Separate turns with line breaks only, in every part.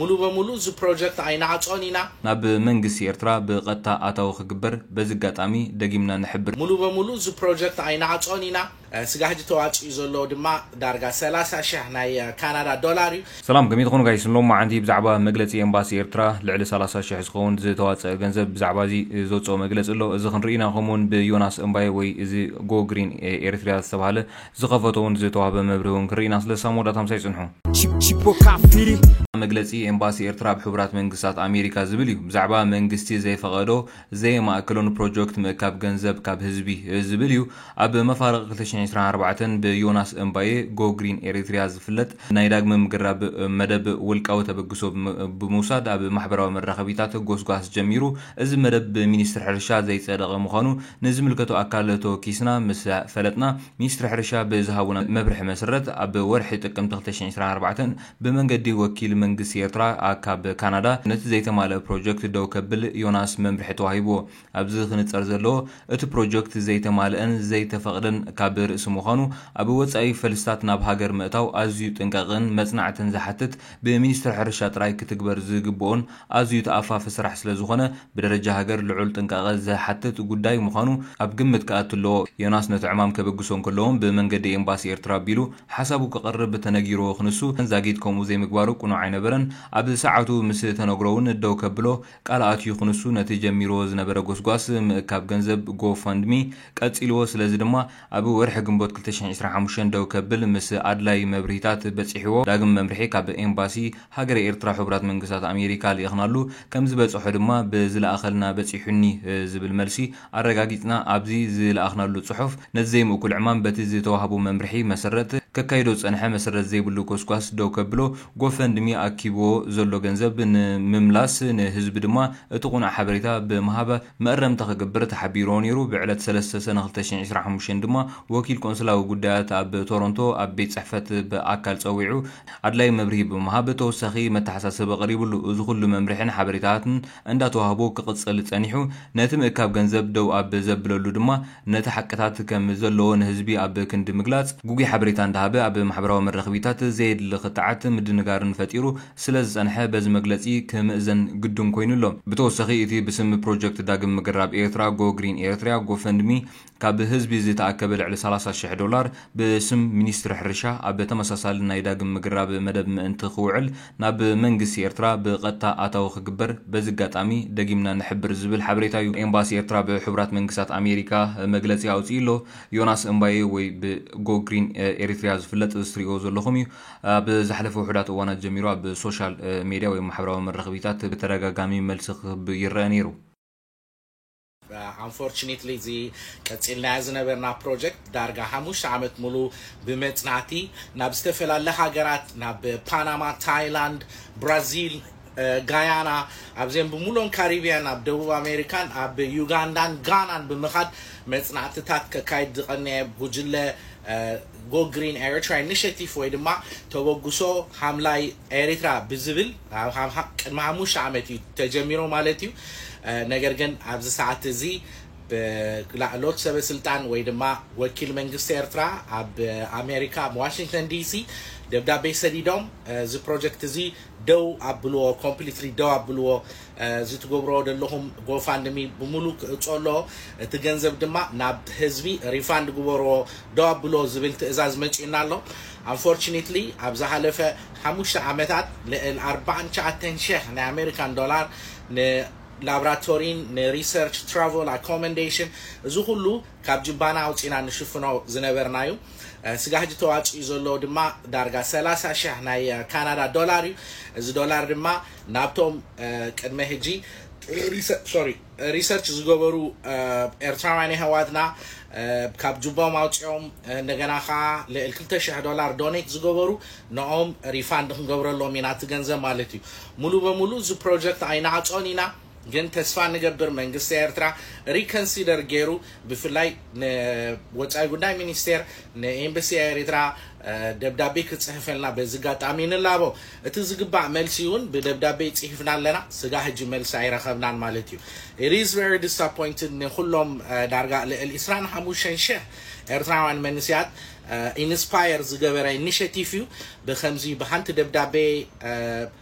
ሙሉ በሙሉ እዚ ፕሮጀክት ኣይንዓፆን ኢና። ናብ መንግስቲ
ኤርትራ ብቐጥታ ኣታዊ ክግበር በዚ ኣጋጣሚ ደጊምና ንሕብር። ሙሉ በሙሉ እዚ
ፕሮጀክት ኣይንዓፆን ኢና። ስጋብ ሕጂ ተዋፂኡ ዘሎ ድማ ዳርጋ ሰላሳ ሽሕ ናይ ካናዳ ዶላር እዩ። ሰላም ከመይ ትኾኑ ጋይስ
ሎማዓንቲ ብዛዕባ መግለፂ ኤምባሲ ኤርትራ ልዕሊ ሰላሳ ሽሕ ዝኸውን ዝተዋፀኣ ገንዘብ ብዛዕባ እዚ ዘውፀኦ መግለፂ ኣሎ እዚ ክንርኢ ኢና ከምኡውን ብዮናስ እምባየ ወይ እዚ ጎ ግሪን ኤሪትሪያ ዝተብሃለ ዝኸፈቶ ውን ዝተዋህበ መብርሂ ውን ክንርኢ ኢና ስለዚ ሳሞዳት ኣምሳይ ጽንሑ። መግለጺ ኤምባሲ ኤርትራ ኣብ ሕቡራት መንግስታት ኣሜሪካ ዝብል እዩ። ብዛዕባ መንግስቲ ዘይፈቐዶ፣ ዘየማእከሎ ንፕሮጀክት ምእካብ ገንዘብ ካብ ህዝቢ ዝብል እዩ። ኣብ መፋርቕ ክልተ ሽሕን ዕስራን ኣርባዕተን ብዮናስ እምባየ፣ Go Green Eritrea፣ ዝፍለጥ ናይ ዳግመ ምግራብ መደብ ውልቃዊ ተበግሶ ብምውሳድ ኣብ ማሕበራዊ መራኸቢታት ጎስጓስ ጀሚሩ። እዚ መደብ ብሚኒስትሪ ሕርሻ ዘይጸደቐ ምዃኑ ንዝምልከቶ ኣካል ተወኪስና ምስ ፈለጥና፣ ሚኒስትሪ ሕርሻ ብዝሃቡና መብርሒ መስረት ኣብ ወርሒ ጥቅምቲ ክልተ ሽሕን ዕስራን ኣርባዕተን ብመንገዲ ወኪል መንግስቲ ኤርትራ ኣካብ ካናዳ ነቲ ዘይተማልእ ፕሮጀክት ደው ከብል ዮናስ መምርሒ ተዋሂብዎ። ኣብዚ ክንጸር ዘለዎ እቲ ፕሮጀክት ዘይተማልእን ዘይተፈቕደን ካብ ርእሲ ምዃኑ ኣብ ወጻኢ ፈልስታት ናብ ሃገር ምእታው ኣዝዩ ጥንቃቐን መጽናዕትን ዝሓትት ብሚኒስትሪ ሕርሻ ጥራይ ክትግበር ዝግብኦን ኣዝዩ ተኣፋፊ ስራሕ ስለዝኾነ ብደረጃ ሃገር ልዑል ጥንቃቐ ዝሓትት ጉዳይ ምዃኑ ኣብ ግምት ክኣቱ ኣለዎ። ዮናስ ነቲ ዕማም ከበግሶ እንከሎ'ውን ብመንገዲ ኤምባሲ ኤርትራ ኣቢሉ ሓሳቡ ከቕርብ ተነጊርዎ ክንሱ ዛጊት ከምኡ ዘይምግባሩ ቅኑዕ ኣይነበረን። ኣብ ሰዓቱ ምስ ተነግሮ'ውን ደው ከብሎ ቃል ኣትዩ ክንሱ ነቲ ጀሚርዎ ዝነበረ ጎስጓስ ምእካብ ገንዘብ፣ Go Fund Me፣ ቀጺልዎ። ስለዚ ድማ። ኣብ ወርሒ ግንቦት ክልተ ሽሕን ዕስራን ሓሙሽተን ደው ከብል ምስ ኣድላዪ መብርሂታት በጺሕዎ ዳግም መምርሒ ካብ ኤምባሲ ሃገረ ኤርትራ ሕቡራት መንግስታት ኣሜሪካ ልኢኽናሉ ከም ዝበጸሖ ድማ ብዝለኣኸልና በጺሑኒ ዝብል መልሲ ኣረጋጊጽና ኣብዚ ዝለኣኽናሉ ጽሑፍ ነቲ ዘይምእኩል ዕማም በቲ ዝተዋህቦ መምርሒ መሰረት ከካይዶ ዝጸንሐ መሰረት ዘይብሉ ጎስጓስ ደው ከብሎ ጎፈንድሚ ኣኪብዎ ዘሎ ገንዘብ ንምምላስ ንህዝቢ ድማ እቲ ቁኑዕ ሓበሬታ ብምሃብ መእረምታ ክገብር ተሓቢሩዎ ነይሩ። ብዕለት ሰለስተ ሰነ ክልተ ሽሕን ዕስራን ሓሙሽተን ድማ ወኪል ቆንስላዊ ጉዳያት ኣብ ቶሮንቶ ኣብ ቤት ጽሕፈት ብኣካል ጸዊዑ ኣድላዪ መብርሂ ብምሃብ ተወሳኺ መተሓሳሰቢ ቀሪብሉ። እዚ ኩሉ መምርሒን ሓበሬታትን እንዳተዋህቦ ክቕጽል ጸኒሑ። ነቲ ምእካብ ገንዘብ ደው ኣብ ዘብለሉ ድማ ነቲ ሓቅታት ከም ዘለዎ ንህዝቢ ኣብ ክንዲ ምግላጽ፣ ግጉይ ሓበሬታ እንዳሃበ ኣብ ማሕበራዊ መራኽቢታት ዘየድሊ ክትዓት ምድንጋርን ፈጢሩ። ስለ ዝጸንሐ በዚ መግለጺ ክምእዘን ግዱን ኮይኑ ኣሎ። ብተወሳኺ እቲ ብስም ፕሮጀክት ዳግም ምግራብ ኤርትራ፣ Go Green Eritrea፣ ጎፈንድሚ ካብ ህዝቢ ዝተኣከበ ልዕሊ ሰላሳ ሽሕ ዶላር ብስም ሚኒስትሪ ሕርሻ ኣብ ተመሳሳሊ ናይ ዳግም ምግራብ መደብ ምእንቲ ክውዕል ናብ መንግስቲ ኤርትራ ብቐጥታ ኣታዊ ክግበር በዚ ኣጋጣሚ ደጊምና ንሕብር ዝብል ሓበሬታ እዩ። ኤምባሲ ኤርትራ ብሕቡራት መንግስታት ኣሜሪካ መግለጺ ኣውጺኡ ኣሎ። ዮናስ እምባየ ወይ ብ Go Green Eritrea ዝፍለጥ እዚ ትርእይዎ ዘለኹም እዩ። ኣብ ዝሓለፈ ውሑዳት እዋናት ጀሚሩ ኣብ ሶሻል ሜድያ ወይ ማሕበራዊ መራኽቢታት ብተደጋጋሚ መልሲ ክህብ ይረኣ ነይሩ።
Unfortunately እዚ ቀጺልናዮ ዝነበርና ፕሮጀክት ዳርጋ ሓሙሽተ ዓመት ሙሉእ ብመጽናቲ ናብ ዝተፈላለ ሃገራት ናብ ፓናማ፣ ታይላንድ፣ ብራዚል፣ ጋያና፣ ኣብዘን ብምሉኦን ካሪብያን፣ ኣብ ደቡብ ኣሜሪካን ኣብ ዩጋንዳን ጋናን ብምኻድ መጽናዕትታት ከካይድ ዝቐነየ ጉጅለ Go Green Eritrea Initiative ወይ ድማ ተበግሶ ሓምላይ ኤሪትራ ብዝብል ቅድሚ ሓሙሽተ ዓመት እዩ ተጀሚሩ ማለት እዩ። ነገር ግን ኣብዚ ሰዓት እዚ ብላዕሎት ሰበስልጣን ወይ ድማ ወኪል መንግስቲ ኤርትራ ኣብ ኣሜሪካ ኣብ ዋሽንግተን ዲሲ ደብዳቤ ሰዲዶም እዚ ፕሮጀክት እዚ ደው ኣብልዎ ኮምፕሊትሊ ደው ኣብልዎ እዚ ትገብርዎ ደለኹም ጎፋንድሚ ብሙሉ ክእጾ ኣለዎ እቲ ገንዘብ ድማ ናብ ህዝቢ ሪፋንድ ግበርዎ ደው ኣብልዎ ዝብል ትእዛዝ መጺኡና ኣሎ ኣንፎርችኒትሊ ኣብ ዝሃለፈ ሓሙሽተ ዓመታት ልዕል ኣርባዓን ትሽዓተን ሽሕ ናይ ኣሜሪካን ዶላር ን ላብራቶሪን ንሪሰርች ትራቮል ኣኮመንዴሽን እዚ ኩሉ ካብ ጅባና ኣውጺና ንሽፍኖ ዝነበርናዩ ስጋ ሕጂ ተዋጺኡ ዘሎ ድማ ዳርጋ ሰላሳ ሽሕ ናይ ካናዳ ዶላር እዩ እዚ ዶላር ድማ ናብቶም ቅድመ ሕጂ ሪሰርች ዝገበሩ ኤርትራውያን የሕዋትና ካብ ጁቦም ኣውጺኦም እንደገና ከኣ ልዕል ክልተ ሽሕ ዶላር ዶኔት ዝገበሩ ንኦም ሪፋንድ ክንገብረሎም ኢና እቲ ገንዘብ ማለት እዩ ሙሉ በሙሉ እዚ ፕሮጀክት ኣይንዓጾን ኢና ግን ተስፋ ንገብር መንግስቲ ኤርትራ ሪከንሲደር ጌሩ ብፍላይ ንወጻኢ ጉዳይ ሚኒስቴር ንኤምበሲ ኤሪትራ ደብዳቤ ክጽሕፈልና በዚ ጋጣሚ ንላቦ እቲ ዝግባእ መልሲ ውን ብደብዳቤ ጺህፍና ኣለና ስጋ ህጂ መልሲ ኣይረከብናን ማለት እዩ it is very disappointed ንኩሎም ዳርጋ ልዕል ዕስራን ሓሙሽተን ሽሕ ኤርትራውያን መንስያት ኢንስፓየር ዝገበረ ኢኒሸቲቭ እዩ ብከምዚ ብሃንቲ ደብዳቤ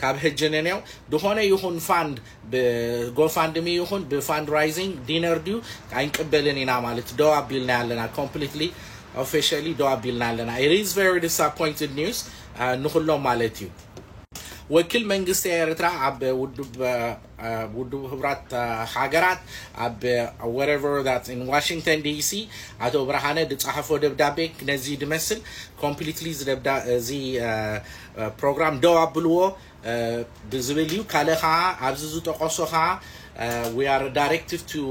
ካብ ህጂ ንኔው ድኾነ ይኹን ፋንድ ብጎፋንድሚ ይኹን ብፋንድራይዚንግ ዲነር ድዩ ኣይንቅበልን ኢና ማለት ደው ኣቢልና ኣለና ኮምፕሊትሊ ኦፊሻሊ ደው ኣቢልና ኣለና it is very disappointed news አ፣ ንኹሎም ማለት እዩ ወኪል መንግስቲ ኤርትራ ኣብ ውድብ ውድቡ ህቡራት ሃገራት ኣብ whatever that in Washington DC ኣቶ ብርሃነ ድጻሐፎ ደብዳቤ ነዚ ድመስል completely እዚ ደብዳ እዚ ፕሮግራም ደው ኣብልዎ ድዝብል እዩ ካልእ ኸኣ ኣብዚ ዝጠቀሶ ኸኣ we are directed to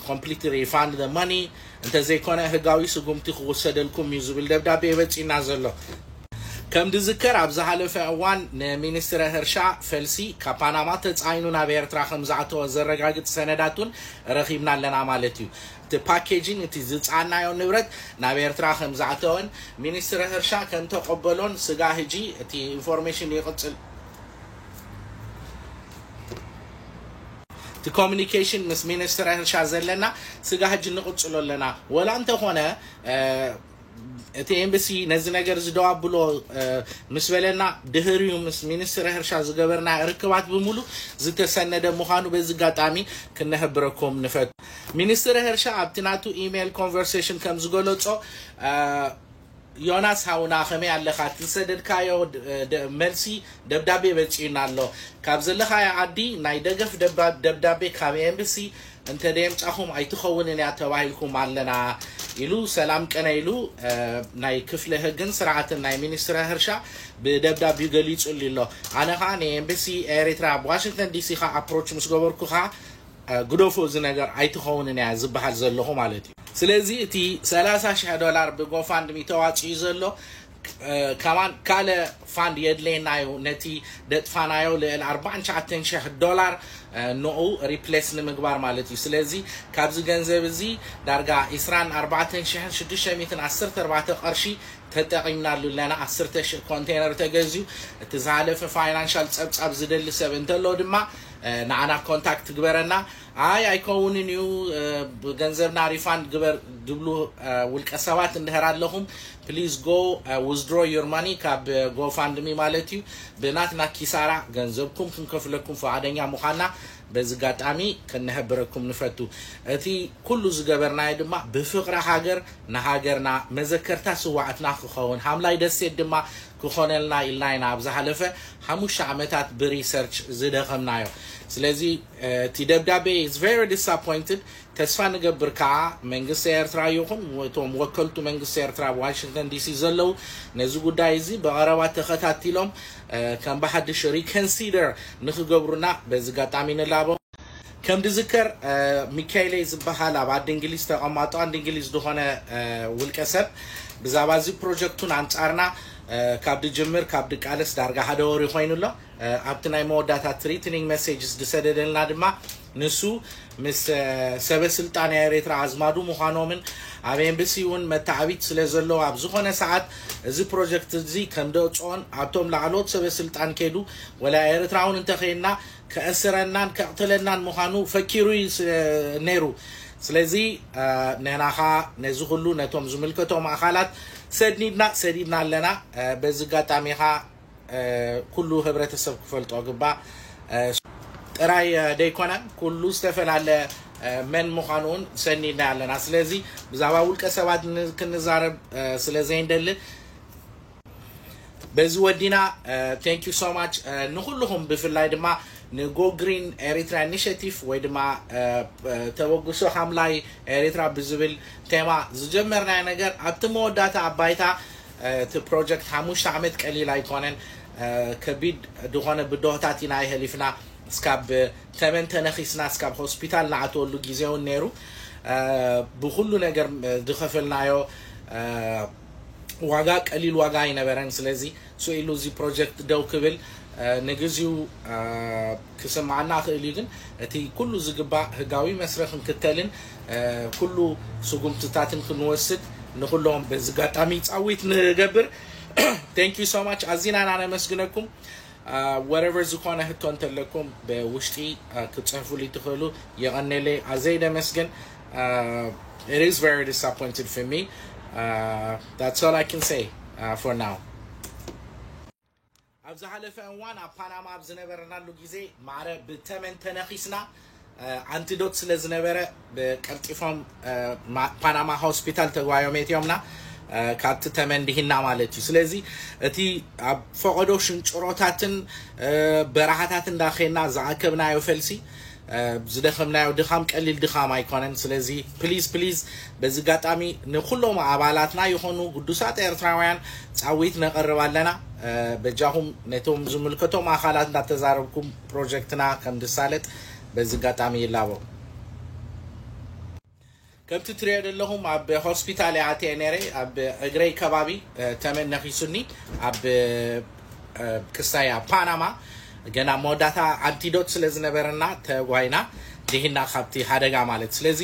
ኮምፕሊት ሪፋንድ ዘ መኒ እንተዘይኮነ ህጋዊ ስጉምቲ ክውሰደልኩም እዩ ዝብል ደብዳቤ የበፂና ዘሎ ከም ዝዝከር ኣብ ዝሃለፈ እዋን ንሚኒስትረ ህርሻ ፈልሲ ካብ ፓናማ ተጻዒኑ ናብ ኤርትራ ከም ዝኣተወ ዘረጋግጽ ሰነዳት እውን ረኺብና ኣለና ማለት እዩ። እቲ ፓኬጂን እቲ ዝጸዓናዮ ንብረት ናብ ኤርትራ ከም ዝኣተወን ሚኒስትረ ህርሻ ከም ተቐበሎን ስጋእ ህጂ እቲ ኢንፎርሜሽን ይቕጽል። እቲ ኮሚኒኬሽን ምስ ሚኒስትረ ህርሻ ዘለና ስጋእ ህጂ ንቕጽሎ ኣለና። ወላ እንተኾነ። እቲ ኤምበሲ ነዚ ነገር እዚ ደው ኣብሎ ምስ በለና ድህሪኡ ምስ ሚኒስትሪ ህርሻ ዝገበርና ርክባት ብምሉ ዝተሰነደ ምዃኑ በዚ ኣጋጣሚ ክነህብረኩም ንፈቱ። ሚኒስትሪ ህርሻ ኣብቲ ናቱ ኢሜይል ኮንቨርሴሽን ከም ዝገለጾ ዮናስ ሃውና ከመይ ኣለኻ እቲ ዝሰደድካዮ መልሲ ደብዳቤ በጺዩና ኣሎ ካብ ዘለኻዮ ዓዲ ናይ ደገፍ ደብዳቤ ካብ ኤምበሲ እንተደየምጻኹም ኣይትኸውንን እያ ተባሂልኩም ኣለና ኢሉ ሰላም ቅነ ኢሉ ናይ ክፍለ ህግን ስርዓትን ናይ ሚኒስትረ ህርሻ ብደብዳቢኡ ገሊጹሊ ኣሎ ኣነ ከኣ ንኤምበሲ ኤሪትራ ኣብ ዋሽንግተን ዲሲ ከኣ ኣፕሮች ምስ ገበርኩ ከኣ ግደፎ እዚ ነገር ኣይትኸውንን እያ ዝበሃል ዘለኹ ማለት እዩ ስለዚ እቲ ሰላሳ ሽሕ ዶላር ብጎፋንድሚ ተዋጺኡ ዘሎ ከማን ካልእ ፋንድ የድልየና እዩ ነቲ ደጥፋናዮ ልዕሊ ኣርባዓን ትሽዓተን ሽሕ ዶላር ኖኡ ሪፕለስ ንምግባር ማለት እዩ ስለዚ ካብዚ ገንዘብ እዚ ዳርጋ ዕስራን ኣርባዕተን ሽሕን ሽዱሽተ ሚእትን ዓሰርተ ኣርባዕተ ቅርሺ ተጠቂምናሉ ኣለና ዓስርተ ሽሕ ኮንቴነር ተገዝዩ እቲ ዝሃለፈ ፋይናንሻል ጸብጻብ ዝደሊ ሰብ እንተሎ ድማ ንዓና ኮንታክት ግበረና ኣይ ኣይከውንን እዩ ገንዘብና ሪፋንድ ግበር ድብሉ ውልቀ ሰባት እንድህር ኣለኹም please go withdraw your money ካብ GoFundMe ማለት እዩ ብናትና ኪሳራ ገንዘብኩም ክንከፍለኩም ፍቓደኛ ምዃንና በዚ ኣጋጣሚ ክንሕብረኩም ንፈቱ እቲ ኩሉ ዝገበርናዮ ድማ ብፍቕሪ ሃገር ንሃገርና መዘከርታ ስዋኣትና ክኸውን ሃምላይ ደሴት ድማ ክኾነልና ኢልና ኢና ኣብ ዝሓለፈ ሓሙሽተ ዓመታት ብሪሰርች ዝደኸምናዮ ስለዚ እቲ ደብዳቤ is very disappointed ተስፋ ንገብር ከኣ መንግስቲ ኤርትራ ይኹን እቶም ወከልቱ መንግስቲ ኤርትራ ኣብ ዋሽንግተን ዲሲ ዘለዉ ነዚ ጉዳይ እዚ ብቐረባ ተኸታቲሎም ከም ብሓድሽ ሪከንሲደር ንክገብሩና በዚ ኣጋጣሚ ንላቦ። ከም ድዝከር ሚካኤለይ ዝበሃል ኣብ ኣዲ እንግሊዝ ተቐማጦ ኣዲ እንግሊዝ ድኾነ ውልቀ ሰብ ብዛባ እዚ ፕሮጀክቱን ኣንጻርና ካብ ድጅምር ካብ ድቃለስ ዳርጋ ሓደ ወሪ ኮይኑ ኣሎ። ኣብቲ ናይ መወዳእታ ትሪትኒንግ መሴጅስ ዝሰደደልና ድማ ንሱ ምስ ሰበ ስልጣን ናይ ኤሪትራ ኣዝማዱ ምዃኖምን ኣብ ኤምብሲ እውን መታዓቢት ስለ ዘለዎ ኣብ ዝኾነ ሰዓት እዚ ፕሮጀክት እዚ ከም ደእጽኦን ኣብቶም ላዕለዎት ሰበ ስልጣን ከይዱ ወላ ኤሪትራ እውን እንተ ዄንና ከእስረናን ከቕትለናን ምዃኑ ፈኪሩ እዩ ነይሩ ስለዚ ንሕና ከኣ ነዚ ኩሉ ነቶም ዝምልከቶም ኣኻላት ሰድኒድና ሰዲድና ኣለና በዚ ኣጋጣሚ ከኣ ኩሉ ህብረተሰብ ክፈልጦ ግባእ ጥራይ ደይኮነ ኩሉ ዝተፈላለ መን ምዃኑ እውን ሰኒድና ኣለና ስለዚ ብዛዕባ ውልቀ ሰባት ክንዛረብ ስለ ዘይንደሊ በዚ ወዲና ቴንክ ዩ ሶ ማች ንኩልኹም ብፍላይ ድማ ንጎ ግሪን ኤሪትራ ኢኒሽቲቭ ወይ ድማ ተበግሶ ሓምላይ ኤሪትራ ብዝብል ቴማ ዝጀመርናዮ ነገር ኣብቲ መወዳእታ ኣብ ባይታ እቲ ፕሮጀክት ሓሙሽተ ዓመት ቀሊል ኣይኮነን ከቢድ ድኾነ ብዶሆታት ኢና የህሊፍና እስካብ ተመን ተነኺስና እስካብ ሆስፒታል ንኣትወሉ ግዜ ውን ነይሩ ብኹሉ ነገር ድኸፈልናዮ ዋጋ ቀሊል ዋጋ ኣይነበረን ስለዚ ሱኢሉ እዚ ፕሮጀክት ደው ክብል ንግዚኡ ክስምዓና ይኽእል እዩ ግን እቲ ኩሉ ዝግባእ ህጋዊ መስረ ክንክተልን ኩሉ ስጉምትታትን ክንወስድ ንኹሎም በዚ ጋጣሚ ጻዊት ንገብር Thank you so much ኣዚና ኢና ነመስግነኩም ወረቨር ዝኾነ ህቶ እንተለኩም ብውሽጢ ክትጽሕፉልይ ትኽእሉ የቐኔለይ ኣዘይ ደመስግን It is very disappointed for me That's all I can say for now ኣብ ዝሓለፈ እዋን ኣብ ፓናማ ኣብ ዝነበርናሉ ግዜ ማዕረ ብተመን ተነኺስና ኣንቲዶት ስለ ዝነበረ ቀልጢፎም ፓናማ ሆስፒታል ተጓዮም የትዮምና ካብቲ ተመን ድሂና ማለት እዩ ስለዚ እቲ ኣብ ፈቐዶ ሽንጭሮታትን በረሃታትን ዳኼና ዝኣከብናዮ ፈልሲ ዝደኸምናዮ ድኻም ቀሊል ድኻም ኣይኮነን ስለዚ ፕሊዝ ፕሊዝ በዚ ጋጣሚ ንኩሎም ኣባላትና ይኾኑ ግዱሳት ኤርትራውያን ጻዊት ነቅርብ ኣለና በጃኹም ነቶም ዝምልከቶም ኣኻላት እንዳተዛረብኩም ፕሮጀክትና ከምድሳለጥ በዚ ጋጣሚ ይላቦ። ከምቲ ትሪኦ ደለኹም ኣብ ሆስፒታል እየ ኣትየ ነይረ ኣብ እግረይ ከባቢ ተመን ነኺሱኒ ኣብ ክሳይ ኣብ ፓናማ ገና መወዳእታ ኣንቲዶት ስለ ዝነበረና ተጓይና ድሂና ካብቲ ሓደጋ ማለት ስለዚ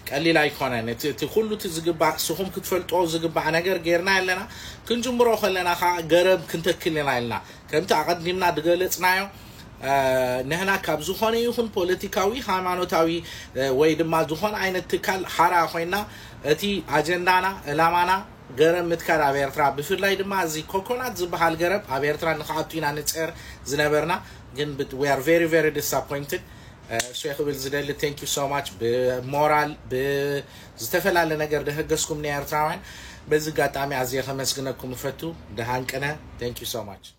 ቀሊል ኣይኮነን እቲ እቲ ኩሉ እቲ ዝግባእ ስኹም ክትፈልጦ ዝግባእ ነገር ጌርና ኣለና ክንጅምሮ ከለና ከዓ ገረብ ክንተክል ኢና ኢልና ከምቲ ኣቐዲምና ድገለጽናዮ ንህና ካብ ዝኾነ ይኹን ፖለቲካዊ፣ ሃይማኖታዊ ወይ ድማ ዝኾነ ዓይነት ትካል ሓራ ኮይና እቲ ኣጀንዳና ዕላማና ገረብ ምትካል ኣብ ኤርትራ ብፍላይ ድማ እዚ ኮኮናት ዝብሃል ገረብ ኣብ ኤርትራ ንክኣቱ ኢና ንጽዕር ዝነበርና ግን ብ- we are very very disappointed እሱ ክብል ዝደሊ thank you so much ብሞራል ብዝተፈላለ ነገር ደህገስኩም ንኤርትራውያን በዚ ኣጋጣሚ ኣዝየ ከመስግነኩም እፈቱ ደሃን ቅነ thank you so much